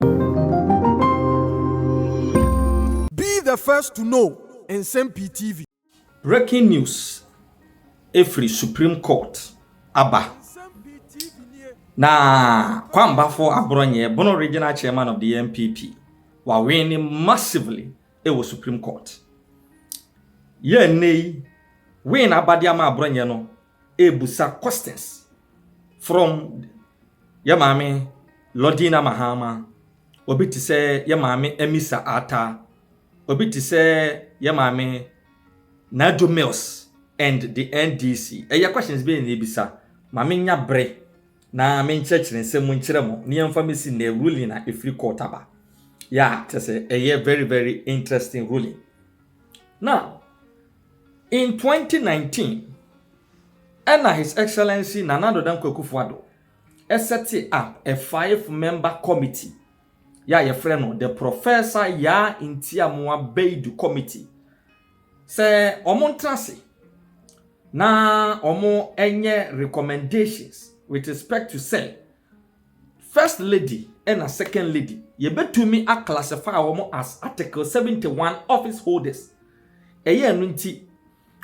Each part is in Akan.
Be the first to know Nsɛm Pii TV. Breaking news firi Supreme Court aba na Kwambafo Aborɔnyɛ, Bono Regional Chairman of the NPP, wawene massively wɔ Supreme Court. Yɛ nnɛ yi, win abade ama Aborɔnyɛ no rebusa questions from yɛ maame Lordina Mahama, obi te sɛ yɛ maame Amisa Ata, obi te sɛ yɛ maame Najo Mills and the NDC. Ɛyɛ questions bɛyɛ na ebisa ma menya bere na menkyerɛkyerɛ nsɛm mu nkyerɛ mo ne yɛmfa mesi na ruling a ɛfiri court aba. Yeah, kyerɛ sɛ ɛyɛ very very interesting ruling. Now, In twenty nineteen, ɛna His Excellency Nana Addo Dankwa Akufo-Addo sɛte up a five member committee yɛ a yɛfrɛ no the Professor Yaa Ntiamoa Baidu Committee sɛ wɔn ntra ase na wɔn nyɛ recommendations with respect to sɛ First lady na second lady yɛbɛtumi a classify wɔn as article 71 office holders ɛyɛ ɛno nti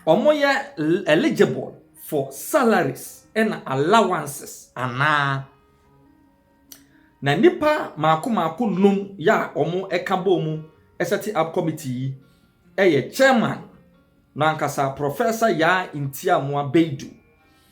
wɔn yɛ eligible for salaries na allowances anaa na nipa mako mako num yɛ a wɔn ɛka bɔ mu ɛsɛte up committee yi ɛyɛ chairman no ankasa professor yaa ntiamoa beidu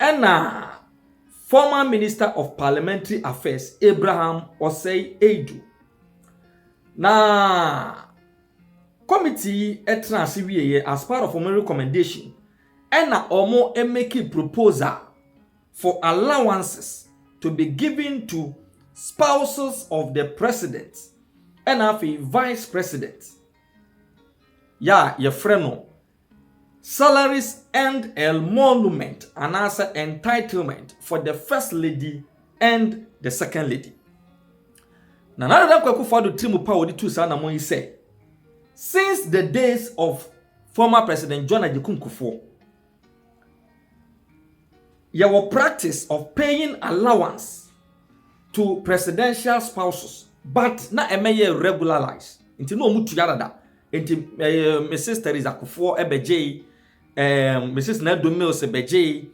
Ɛna former Minister of Parliamentary Affairs Abraham Osei Adu. Na committee yi ɛtena ase wieɛ as part of wɔn recommendation ɛna wɔn make proposal for allowances to be given to spouses of the president ɛna afei vice president yɛ a yɛfrɛ no Salaries and Emolument anaasɛ Entitlement for the First Lady and the Second Lady. Nana Addo Dankwa Akufo-Addo tiri mu pa a wɔde tuu saa anammɔn yi sɛ, Since the days of former President John Agyekum Kufuor, yɛwɔ practice of paying allowance to presidential spouses but na ɛmɛyɛ regularize nti na wɔtua dada. nti ɛɛ mrs teresa kofoɔ ɛbɛgyee ɛɛ mrs nadu mills ɛbɛgyee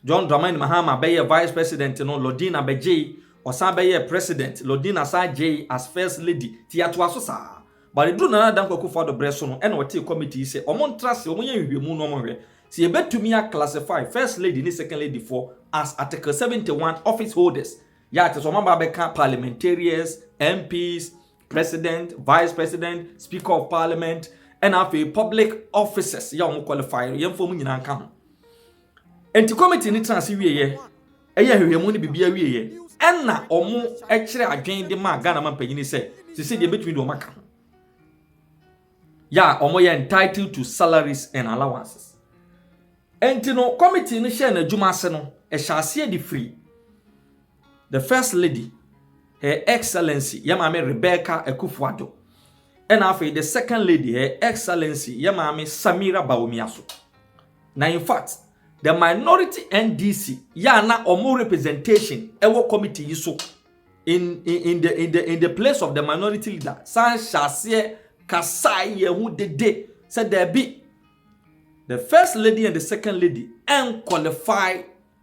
john dramani mahama bɛyɛ vice president no lodina bɛgyee ɔsan bɛyɛ president lodina san gyee as first lady ti yɛatoa so saa but ɛduru nana danko akufo ado berɛ so no ɛna ɔtee committee sɛ wɔn ntra se wɔn yɛ nhwehwɛmu no wɔn hwɛ sɛ yɛbɛtumi a classify first lady ne second lady foɔ as article 71 office holders yɛ ate sɛ wɔn aba bɛka parliamentarians mps President, Vice President, Speaker of Parliament, ɛna afei public officers yɛ wɔn qualify yɛn fam nyinaa nka ho nti committee no tena ase wieɛ ɛyɛ ahwehwɛmu no biribi awieɛ ɛna wɔn kyerɛ adwene de maa ghana ma mpanyini sɛ sisi deɛ ebetumi de wɔn aka ho yɛ a wɔn yɛ entitled to salaries and allowances nti no committee no hyɛ n'adwuma ase no ɛhyɛ aseɛ de firi The First Lady, Her Excellency yɛn Maame Rebecca Akufo-Addo, ɛna afei The Second Lady, Her Excellency yɛn Maame Samira Bawumiaso. Na in fact, the minority NDC yɛ a na wɔn representation wɔ committee yi so in, in, in, the, in, the, in the place of the minority leader san hyɛ aseɛ kasae yɛn ho dede sɛ daabi, the First Lady and the Second Lady ɛnqualify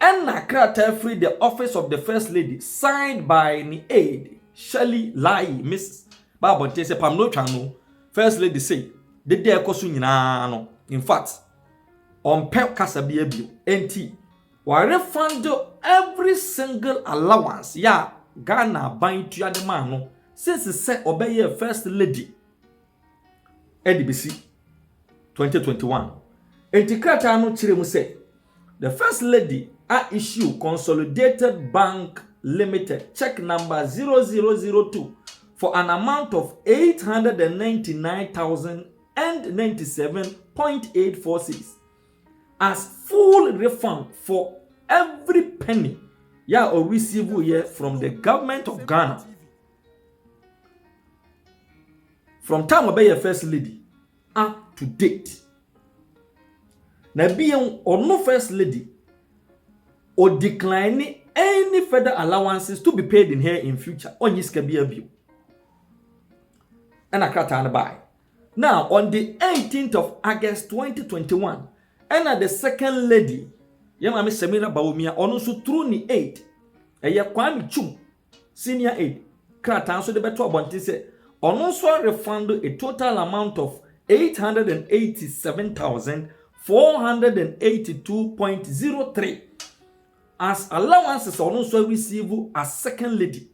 Ɛnna krataa firi The Office of the First Lady signed by ne aide, Shirley Lahi, Miss, baa abɔnten sɛ, Pam na otwa ano. First Lady sei, dede a ɛkɔ so nyinaa no, in fact, ɔmpɛ kasa biara bio. Enti, wɔrefund every single allowance yɛ a Ghana aban tua de maa no since sɛ ɔbɛyɛɛ First Lady. de besi 2021. Enti krataa no kyerɛ mu sɛ, The First Lady a issue Consolidated Bank Limited check number 0002 for an amount of 899,097.84 cedis as full refund for every penny yeah or receive yeah from the government of Ghana. from time ɔbɛyɛ first lady up to date na bio ɔno first lady o decline any further allowances to be paid in her in future ɔnyi sika bi abio ɛna krataa no bae now on the 18th of august 2021 ɛna the second lady yɛ maame samira baomia ɔno nso through ne aid ɛyɛ kwame chum Senior Aid, krataa nso de bɛto abɔnten sɛ ɔno nso arefando a total amount of eight hundred and eighty seven thousand four hundred and eighty two point zero three as allowances a ɔno nso areceive as second lady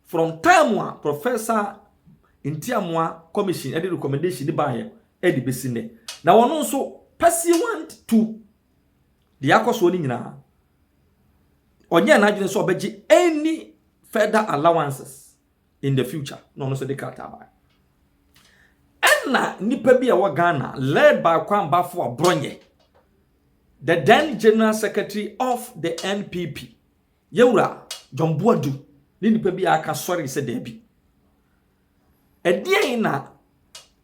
from time a Professor Ntiamoa Commission ɛde recommendation de baayɛ ɛde besi nnɛ na ɔno nso pursuant to deɛ akɔ soɔ no nyinaa ɔnyɛɛ n'adwene sɛ ɔbɛgye any further allowances in the future na ɔno nso de krataa baa ɛna nipa bi a ɛwɔ ghana led by kwan bafo a brɔnyɛ the then general secretary of the npp yɛwura john boadu ne nipa bi a aka sɔre sɛ daabi ɛdeɛn na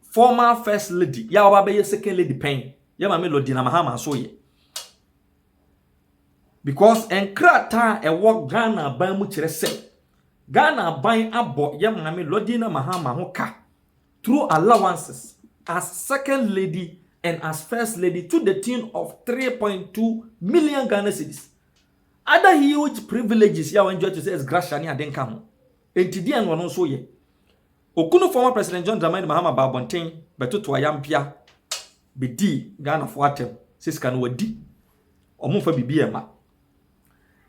former first lady yɛ a ɔba bɛyɛ second lady pɛn yɛ maame lodina mahama so yɛ Because nkrataa a ɛwɔ Ghana aban mu kyerɛ sɛ Ghana aban abɔ yɛ maame Lordina Mahama ho ka through allowances as second lady and as first lady to the tune of 3.2 million Ghana cedis. Other huge privileges yɛ a wɔn to sɛ gratia ne ade nka ho. Enti deɛ na ɔno nso yɛ. Okunu former President John Dramani Mahama baa abɔnten bɛtoto ayampia bɛdii Ghanafoɔ atɛm sɛ sika no wɔadi, wɔmfa biribiara mma.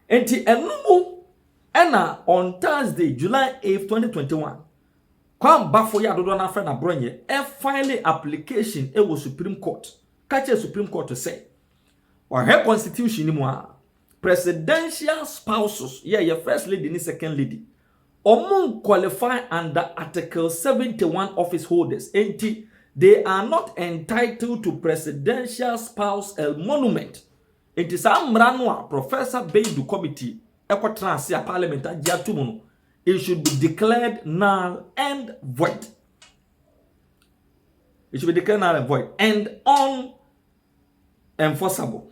Enti ɛno mu ɛna on Thursday, July 8, 2021, Kwame Bafo yɛ adodoɔ no afrɛ no aborɔnyɛ, ɛfile application wɔ Supreme Court, ka kyerɛ Supreme Court sɛ wɔahwɛ constitution no mu a, Presidential spouses yɛ yɛ first lady ne second lady ɔmo nkwalifai under article seventy one office holders nti they are not entitled to presidential spouse elmonument nti saa mmara no a professor beidu committee ɛkɔ tena ase a parliament agye ato mu no it should be declared null and void it should be declared null and void and on enforceable.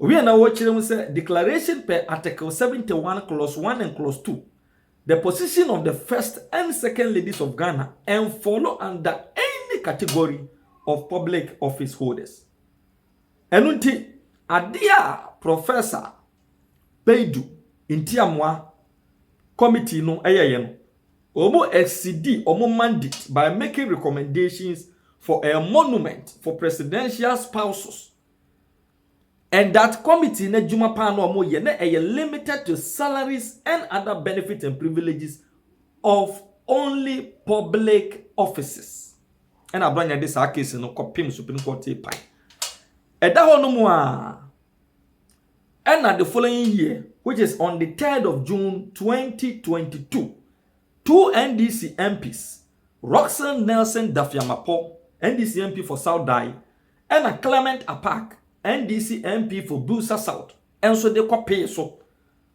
Owie na wɔkyerɛ mu sɛ declaration per Article 71 clause 1 and clause 2 the position of the first and second ladies of Ghana enfollow under any category of public office holders. Ɛno nti, adeɛ a Professor Beidu Ntiamoa committee no ɛyɛyɛ no, Wɔn asidi wɔn mandate by making recommendations for a monument for presidential spouses and that committee no adwuma paa na wɔn yɛ na ɛyɛ limited to salaries and other benefits and privileges of only public offices. Ɛna Abranya de saa case no kɔpem Supreme Court pae. Ɛda hɔ nom a Ɛnna the following year, which is on the third of June twenty twenty two, two NDC MPs, Rockson Nelson Daffy-Amarpoh, NDC MP for South Dayi, ɛnna Clement Apaak, NDC MP for Builsa South, nso de kɔpee so.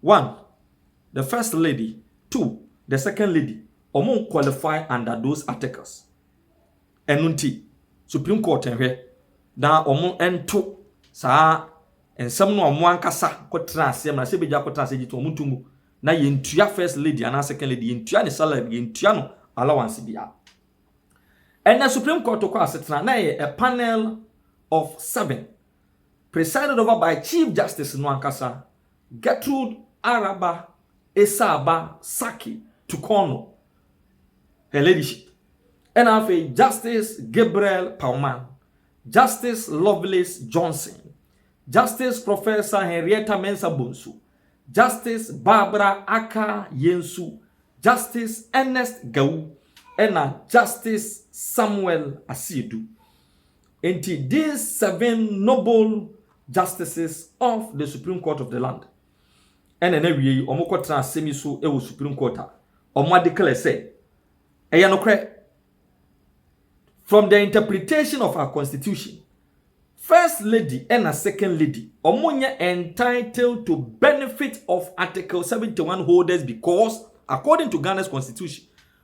one the first lady two the second lady ɔmo nkwɔlifai under those articles ɛno nti supreme court nhwɛ na ɔmo nto saa nsɛm no a ɔmo ankasa kɔtena aseɛ mmara sɛ ebi gya kɔtena aseɛ gyi to ɔmo nto mu na yɛn tua first lady anaa second lady yɛn tua ne salary yɛn tua no allowance bi a ɛnna supreme court kɔ asetena na ɛyɛ a panel of seven presided over by Chief Justice no ankasa, Gertrude Araba Essah-Abba Sarki Tukorno, Her Ladyship, ɛna afei Justice Gabriel Pauman, Justice Lovelace Johnson, Justice Professor Henrietta Mensah Bonsu, Justice Barbara Aka Yensu, Justice Ernest Gawu, ɛna Justice Samuel Asiedu. Enti these seven noble justices of the Supreme Court of the land ɛna na awie yi wɔn kɔ tena asɛm yi so wɔ Supreme Court a wɔn adeclare sɛ ɛyɛ nokorɛ from the interpretation of our constitution First Lady ɛna Second Lady wɔn nyɛ entitled to benefit of Article 71 holders because according to Ghana's constitution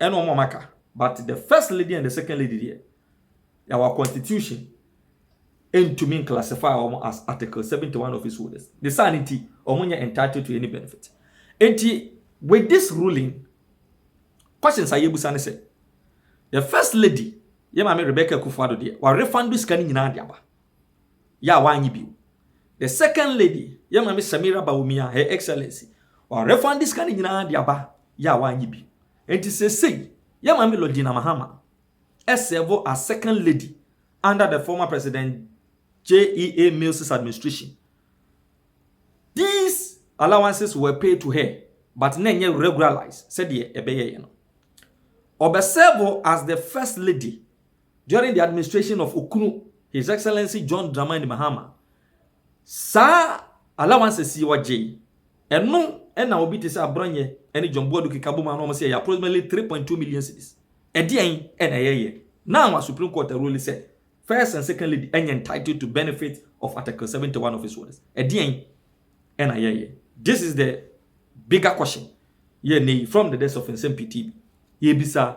ɛna ɔmo a aka but the first lady and the second lady deɛ yɛwɔ constitution ɛntumi nclassify ɔmo as article 71 office holders ne saa ne nti ɔmo nyɛ entitled to any benefit nti with this ruling questions a yɛbusa ne sɛ the first lady yɛ maame Rebecca Kufuado deɛ wa refund sika no nyinaa de aba yɛ a wannye bio. The second lady, yɛn maame Samira Bawumia, Her Excellency, ɔarefande sika no nyinaa de aba yɛ a wannye bio. Enti seesei, yɛn maame Lordina Mahama sɛɛvo as second lady under the former President JEA Mills's administration. These allowances were paid to her but na ɛnyɛ regularised sɛdeɛ ɛbɛyɛeɛ no. Ɔbɛsɛɛvo as the first lady During the administration of Okunu, His Excellency John Dramani Mahama, saa allowances yi ɔgyee, ɛno na obi te sɛ Aborɔnyɛ ne John Boadu keka bom a na wɔse ɛyɛ approximately three point two million cedis. Ɛdeɛn na ɛyɛeɛ? Now a Supreme Court arule sɛ First and Second Lady nyɛ entitled to benefit of Article seventy one of his orders. Ɛdeɛn na ɛyɛeɛ? This is the bigger question yɛ nnɛ yi from the desk of Nsɛm Pii TV. Yɛrebisa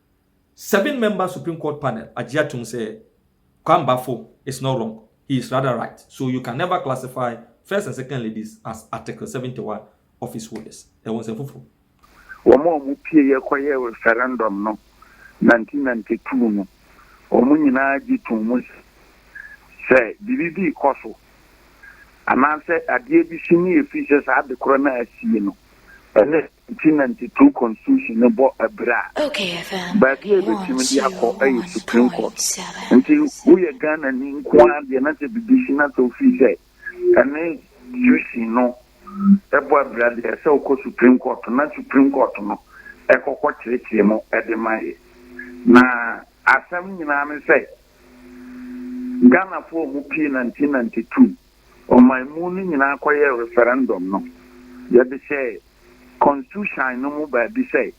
Seven member Supreme Court panel agye atom sɛ Kwambafo is not wrong, he is rather right, so you can never classify First and Second Ladies as Article seventy one office holders. Ɛwɔ nsɛmfufo. Wɔn a wɔpueeɛ kɔyɛɛ referendum no nineteen ninety two no, wɔn nyinaa gye too mu sɛ, sɛ biribi bi rekɔ so anaasɛ adeɛ bi si ne yɛ firi sɛ saa adekorɔ no a asie no, ɛne Nti na nteteu constitution no bɔ abira a, baabi a ebetumi de akɔ yɛ Supreme Court. Nti woyɛ Ghanani nko ara deɛ na sɛ biribi si na sɛ ofii sɛ ɛne tuition no bɔ abira deɛ ɛsɛ sɛ wokɔ Supreme Court na Supreme Court no kɔ kɔ kyerekyere mu de ma yɛ. Na asɛm nyinaa ne sɛ Ghanafoɔ a wɔpie na nti na nteteu Ɔman mu no nyinaa kɔyɛɛ referendum no. Yɛde hyɛɛ Konstiuhyan no mu baabi sɛ,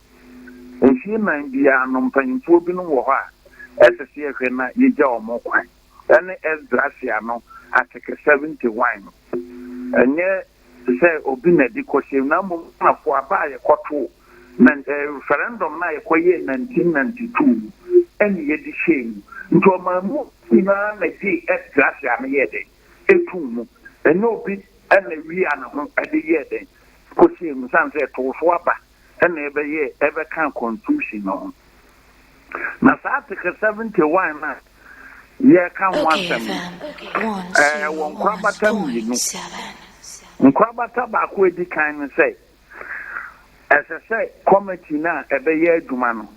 mfie nnan biara no mpanyimfoɔ binom wɔ hɔ a ɛsɛ sɛ yɛhwɛ na yɛgya wɔn kwan. Ɛne Esdrasia no Ateke 71 no. Ɛnyɛ sɛ obi na ɛde kɔhyɛm na mmom Romafoɔ aba a yɛkɔtoo. Nanti referendum no a yɛkɔyɛɛ nineteen ninety two no ɛna yɛde hyɛɛ mu. Nti ɔmanmu nyinaa na gyee ɛdze ase ano yɛɛ dɛn etuu mu. Ɛnyɛ obi ɛna wiaa ne ho ɛde yɛɛ dɛn kɔhyɛɛ mu sane sɛ ɛtoo so aba ɛna ɛbɛyɛɛ ɛbɛkaa constitution no ho. Na saa article seventy one no a yɛreka ho asɛm no ɛwɔ nkorabata mmienu. Nkorabata baako a ɛdi kan ne sɛ Ɛsɛ sɛ kɔmiti no a ɛbɛyɛ adwuma no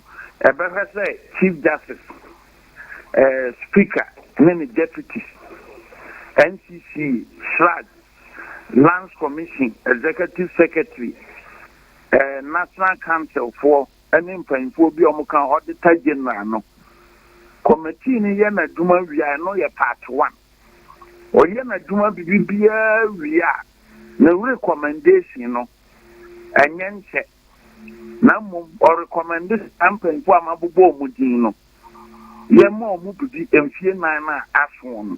bɛhwɛ sɛ Chief Justice, Speaker ne ne Deputies, NCC, SRAG, Lands Commission, Executive Secretary, National Council foɔ ne mpanyinfoɔ bi a wɔka Auditor General no. Kɔmiti no yɛ n'adwuma wie a, ɛno yɛ part one. Ɔyɛ n'adwuma biribiara wie a, No rekɔmɛndehyin no, ɛnyɛ nkyɛ, na mmom ɔrekɔmɛnde saa mpanyimfo a mabobɔ wɔn din no. Yɛma wɔn biribi mfeɛ nnan no a aso wɔn no.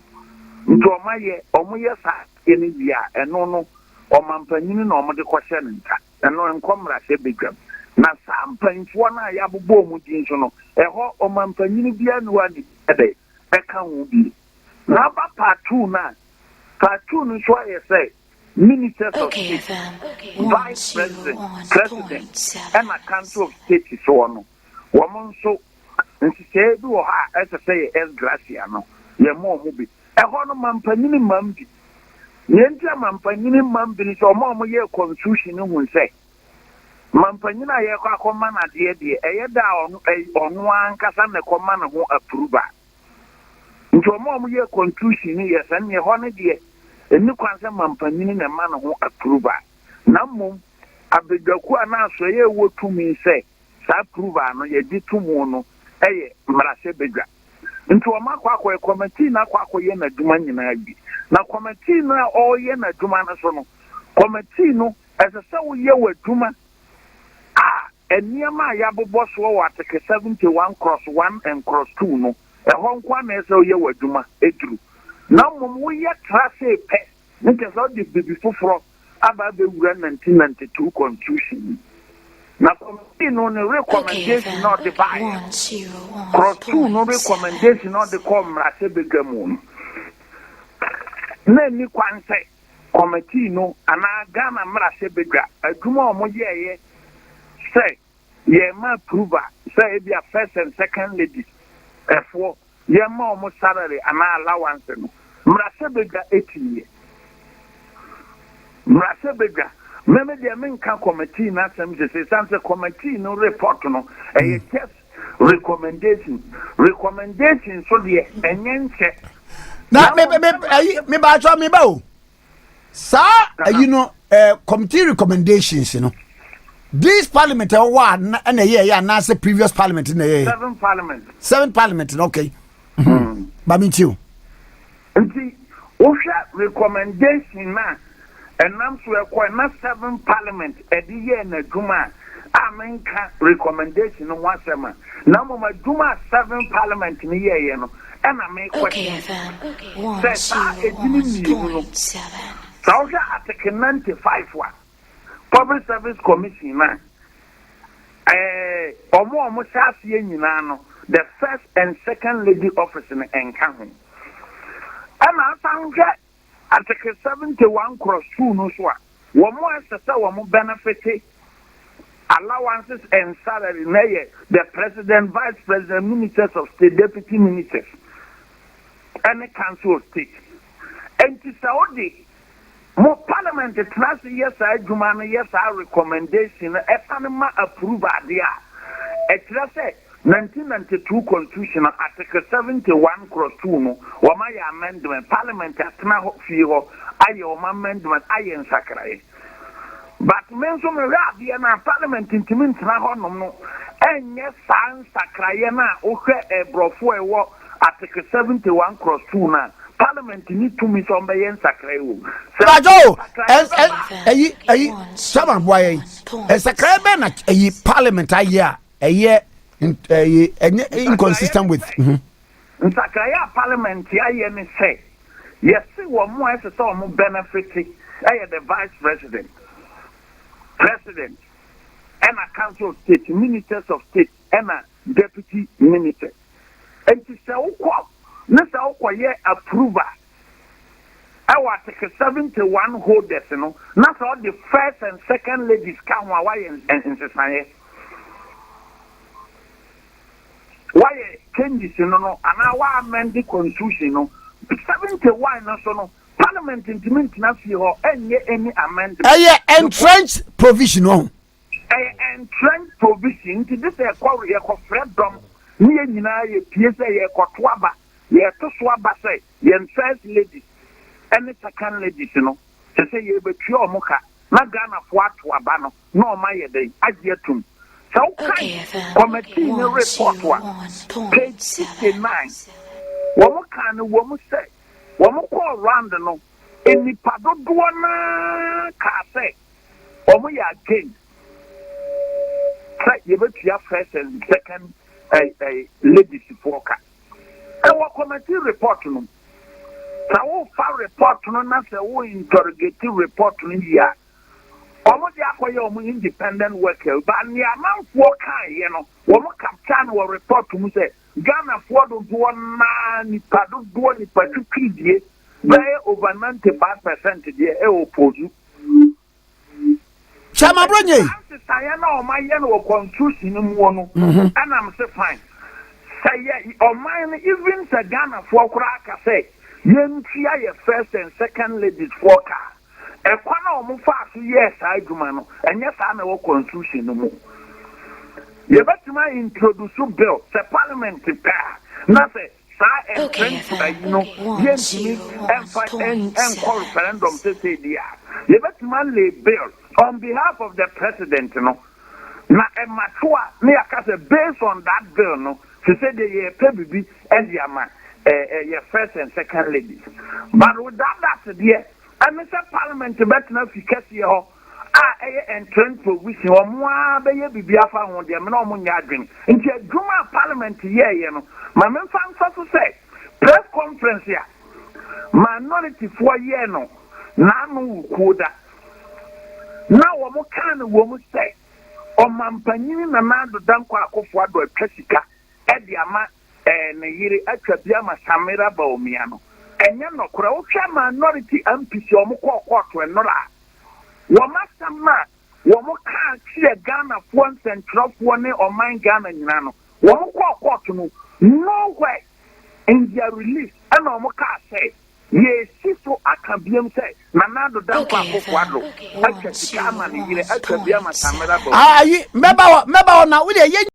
Nti wɔayɛ, wɔyɛ saa adeɛ no wie a, ɛno no, ɔmampanyini na wɔde kɔhyɛ ne nsa. Ɛno ɛnkɔ mmarahyɛbadwam. Na saa mpanyimfoɔ no a yɛabobɔ wɔn din so no, ɛhɔ ɔmampanyini biara nni hɔ a ne bi yɛ dɛn? ɛka ho bi. N'aba paatoo no a paatoo no nso ayɛ sɛ Ministers of State, Vice President, President, ɛna Council of State soɔ no, wɔn nso nhyehyɛeɛ bi wɔ hɔ a ɛsɛ sɛ yɛ ex gratia no, yɛma wɔn bi. Ɛhɔ no, mampanyini mmam bi. Deɛ nti a mampanyini mmam bi ne sɛ, wɔn a wɔyɛɛ Constitution no hunu sɛ, Mampanyin a yɛrekɔ akɔma no adeɛ deɛ, ɛyɛ da a ɔno ɛy ɔno ara ankasa na ɛkɔma ne ho apuru ba. Nti wɔn a wɔyɛɛ contusion no yɛɛ saa no, ɛhɔ no deɛ, ɛnni kwan sɛ mampanyin na ɛma ne ho apuru ba. Na mmom, abadwakuo anaa asoɛeɛ a ɛwɔ tumi sɛ saa approval no yɛgye to mu no yɛ mmarahyɛbadwa. Nti wɔn akɔ akɔyɛ, kɔmɛtii no akɔ akɔyɛ n'adwuma nyinaa awie. Na kɔmɛtii no a ɔreyɛ n'adwuma no so no, kɔmɛtii no Ɛsɛ sɛ woyɛ w'adwuma a nneɛma a yɛabobɔ soɔ wɔ ateke 71 cross one and cross two no, ɛhɔ nko ara na ɛsɛ sɛ woyɛ w'adwuma duru, na mmom woyɛ tra ase pɛ, ne kyerɛ sɛ wode biribi foforɔ aba abɛwura 1992 Constitution mu. Na committee no ne recommendation a ɔde baeɛ no, cross two no recommendation a ɔde kɔɔ mmarahyɛbadwa mu no, na ɛnni kwan sɛ. Kɔmɛtee no anaa Ghana mmarahyɛ badwa adwuma a wɔn yɛɛyɛ sɛ yɛn ma apruva sɛ ebia first and second ladies ɛfoɔ yɛn ma wɔn salary anaa allowance no mmarahyɛ badwa ɛtiiɛ mmarahyɛ badwa mɛmɛ deɛ menka kɔmɛtee no asɛm sese san sɛ kɔmɛtee no report no ɛyɛ just recommendation recommendation so deɛ ɛnyɛ nkyɛ. na me me me ayi me ba atwa me ba o saa ayi no ɛɛ committee recommendations no this parliament ɛwɔ a na ɛna ɛyɛ ɛyɛ anaasɛ previous parliament na ɛyɛ ɛyɛ seven parliament. seven parliament no okay Hmm. ba mi ti o Nti wohwɛ recommendation no a ɛnam so ɛkɔɛ na seven parliament ɛde yɛɛ n'adwuma a, a menka recommendation no ho asɛm a, na mmom adwuma a seven parliament no yɛeɛ no na me question sɛ saa edini mmienu no, sɛ wohwɛ article ninety five a, Public Service Commission no a, ɛɛ, wɔn a wɔhyɛ aseɛ nyinaa no, the First and Second Lady Office no nka ho. Ɛna asan hwɛ Article 71 Cross 2 no nso a, wɔn a ɛsɛ sɛ wɔn bɛnɛfete allowances and salary no yɛ the President, Vice President, Ministers of State, Deputy Ministers, ɛne Council of State. Enti sɛ wode Mo parliament tena ase yɛ saa adwuma no yɛ saa recommendation no ɛsane ma approve adeɛ a, ɛkyerɛ sɛ nineteen ninety two constitution no article seventy one cross two no wɔn ayɛ amendment, parliament atena hɔ fie hɔ ayɛ wɔn amendment ayɛ nsakraeɛ. But me nso mehwɛ adeɛ no a parliament ntumi ntena hɔ nom no ɛnyɛ saa nsakraeɛ no a wohwɛ ɛbrɔfoɔ ɛwɔ Article seventy one cross two no a, Parliament nni tumi sɛ ɔmbɛyɛ nsakrae wɔ mu. Sɛ nsakrae no bɛma. Ayi, ayi, Sama boa yɛn. Nsakrae bɛn na ayi Parliament ayɛ a ɛyɛ ɛyɛ ɛnyɛ inconsistent with. Mhm. Nsakrae a Parliament ayɛ ne sɛ yɛse wɔn a ɛsɛ sɛ wɔn benefit ɛyɛ the Vice President, President, ɛna Council of State, Ministers of State. ɛna deputy minister nti sɛ wokɔ ne sɛ wokɔ yɛ approval ɛwɔ article seventy one holders no na sɛ ɔde first and second ladies ka ho a wayɛ nsesaeɛ wayɛ changes no no anaa wa amend the constitution no seventy one no so no parliament ntumi ntena fie hɔ ɛnyɛ any amendment ɛyɛ entrenched provision ɔho. Ɛyɛ entrenched provision nti gye sɛ yɛkɔ yɛkɔfrɛ dɔm ne yɛn nyinaa yɛpue sɛ yɛrekɔto aba. Yɛreto so aba sɛ yɛn first ladies ne second ladies no kyerɛ sɛ yɛrebɛtua wɔn ka na Ghanafoɔ ato aba no na wɔn ayɛ dɛn agye atom. Sɛ wokan kɔmɛtii no report a, page sixty nine, wɔkaa no wɔ mu sɛ wɔkɔɔ round no nnipa dodoɔ no ara kaa sɛ, wɔyɛ against sɛ yɛbɛtua first and second ladies foɔ ka. Ɛwɔ committee report no. Sɛ wofa report no na sɛ wo interrogate report no yie a, wɔn de akɔyɛ wɔn independent work ba nea amanfoɔ kaeɛ no wɔn capture no wɔ report mu sɛ Ghanafoɔ dodoɔ naa nipa dodoɔ nipa twitwiridie bɛyɛ over ninety five percent deɛ ɛwɔ pozu. Kyɛ ma bro nye. Nsesaeɛ na ɔma yɛ no wɔ constitution no muo no ɛnam se fine sɛ yɛ ɔman no even sɛ Ghana foɔ koraa ka sɛ yɛntua yɛ first and second ladies foɔ ka a ɛkwan a ɔmo faa so yɛɛ saa adwuma no ɛnyɛ saa na ɛwɔ constitution no mu yɛbɛtumi a introduce bill sɛ parliament pɛ a na sɛ saa mprentu ayi no yɛntumi mfa nkɔ referendum sesei deɛ a, yɛbɛtumi alay bill on behalf of the president no, na ɛmato a na yɛaka sɛ based on that bill no, sesei deɛ yɛrepɛ biribi de ama yɛ first and second ladies. But without that deɛ, ɛne sɛ parliament bɛtena fi kɛseɛ hɔ, a ɛyɛ ntrɛntrɛw bi si wɔn ara bɛyɛ biribi afa ho deɛ me ne wɔn nyɛ adwene. Nti adwuma a Parliament yɛeɛ no, ma memfa mfa so sɛ press conference a minorityfoɔ yɛɛ no n'ano wɔ kuo da na wɔn kaa no wɔ mu sɛ Ɔmampanyini Nana Addo Dankwa Akufo-Addo atwa sika de ama Ɛɛ ne yere atwa bi ama Samira Bawumia no ɛnyɛ nɔkorɛ. Wohwɛ minority MPs a wɔn kɔɔ kɔɔto nnora a, wɔn asɛm no a wɔn kaa kyeɛ Ghanafoɔ nsɛntwerɛfoɔ ne ɔman Ghana nyinaa no, wɔn kɔɔ kɔɔto no no where in their release ɛna wɔn kaa sɛ yɛresi so aka biom sɛ Nana Addo Dankwa Akufo Addo atwa sika ama ne yere atwa bi ama Samira Bawumia. Ayi, mɛba hɔ, mɛba hɔ na wodeɛ yɛ.